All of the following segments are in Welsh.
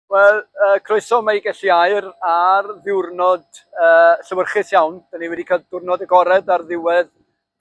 Wel, uh, croeso mae Gelli Air ar ddiwrnod uh, llywyrchus iawn. Dyna ni wedi cael diwrnod agored ar ddiwedd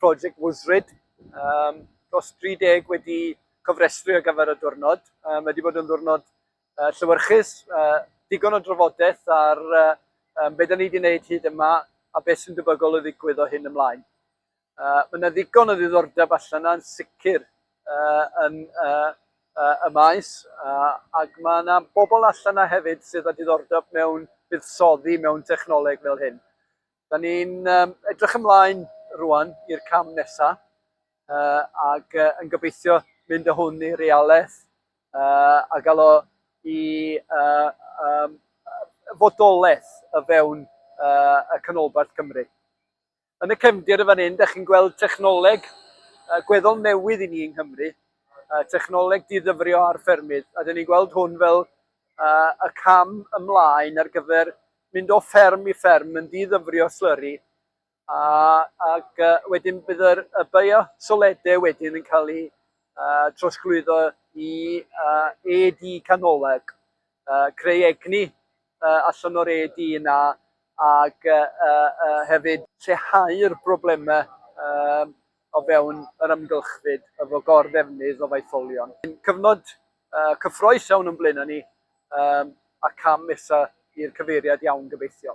Project Wuzrid. Um, dros 30 wedi cofrestru ar gyfer y diwrnod. Um, mae wedi bod yn ddiwrnod uh, llywyrchus, uh, digon o drafodaeth ar uh, um, beth ni wedi gwneud hyd yma a beth sy'n debygol o ddigwydd o hyn ymlaen. Uh, mae yna ddigon o ddiddordeb allan yna'n sicr uh, yn uh, uh, y maes, uh, ac mae yna bobl allan yna hefyd sydd â diddordeb mewn buddsoddi mewn technoleg fel hyn. Da ni'n um, edrych ymlaen rwan i'r cam nesaf, uh, ac uh, yn gobeithio mynd â hwn i realaeth uh, a gael o i uh, um, fodolaeth y fewn uh, y canolbarth Cymru. Yn y cefndir yn fan hyn, da chi'n gweld technoleg uh, gweddol newydd i ni yng Nghymru, uh, technoleg diddyfrio ar ffermydd, a da ni'n gweld hwn fel uh, y cam ymlaen ar gyfer mynd o fferm i fferm yn diddyfrio slurry, a, ac uh, wedyn bydd yr, y bio soledau wedyn yn cael ei uh, trosglwyddo i uh, AD canoleg. uh, creu egni uh, allan o'r ED yna ac uh, uh, hefyd lleihau'r broblemau uh, o fewn yr ymgylchfyd efo gor-ddefnydd o faetholion. Cyfnod uh, cyffroes iawn yn blaen ni um, a cam nesaf i'r cyfeiriad iawn gobeithio.